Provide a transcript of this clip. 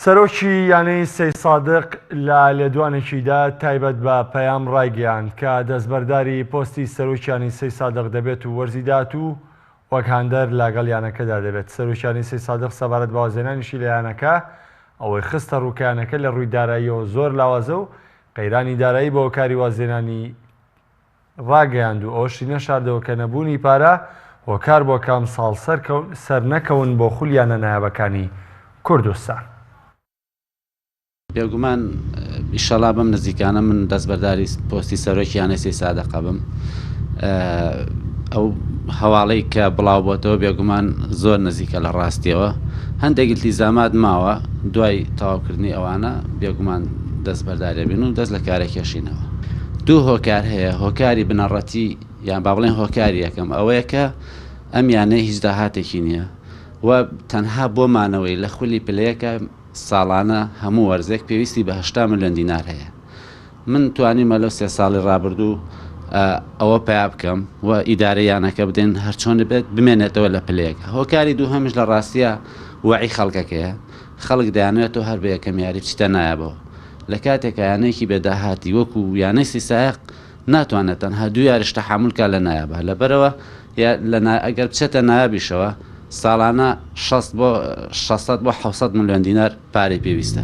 سەرۆکی یانەی سەیسادق لە لێدوانێکیدا تایبەت بە پەیام رایگەیاند کە دەستبەرداری پۆستی سەرۆکیانی سەیسادق دەبێت و وەرزی داهاتوو وەک هاندەر لەگەڵ یانەکەدا دەبێت سەرۆکیانی سەیسادق سەبارەت بە وازهێنانیشی لە یانەکە ئەوەی خستەڕوو کە یانەکە لە رووی داراییەوە زۆر لاوازە و قەیرانی دارایی بەهۆکاری وازهێنانی ڕاگەیاند و ئەوەشی نەشاردەوە کە نەبوونی پارە هۆکار بووە کە ئەمساڵ سەرنەکەون بۆ خول یانە نایابەکانی کوردستان. بێگومان ئیشەڵا بەم نزیکانە من دەستبەرداری پۆستی سەرۆکی یانەی سەی سادق ئەبم ئەو هەواڵەی کە بڵاو بۆتەوە بێگومان زۆر نزیکە لە ڕاستیەوە هەندێک التیزامات ماوە دوای تەواوکردنی ئەوانە بێگومان دەستبەردارێبین و دەست لە کارە کێشینەوە دوو هۆکار هەیە، هۆکاری بنەڕەتی یان با بڵێین هۆکاری یەکەم ئەوەیە کە ئەم یانەیە هیچ داهاتێکی نییە و تەنها بۆ مانەوەی لە خولی پلەیەکە ساڵانە هەموو وەرزێک پێویستی بە هەشتا ملیۆن دینار هەیە. من توانیومە لەو سێ ساڵی رابردوو ئەوە پەیا بکەم و ئیدارەی یانەکە بدەین هەرچۆنبێت بمێنێتەوە لە پلەیەکە. هۆکاری دووهەمیش لە راستیا وەعی خەڵکەکەیە خەڵک دەیانەوێت تۆ هەر بە یەکەم یاری بچیتە نایابەوە، لە کاتێکا یانەیەکی بێ داهاتی وەکو یانەی سیسایەق ناتوانێت تەنها دوو یاریش تەحامول کا لە نایابا، لەبەرئەوە یا لە نا ئەگەر بچێتە نایابیشەوە ساڵانە شەست بۆ شەش سەد بۆ حەوت سەد ملیۆن دینار پارەی پێویستە.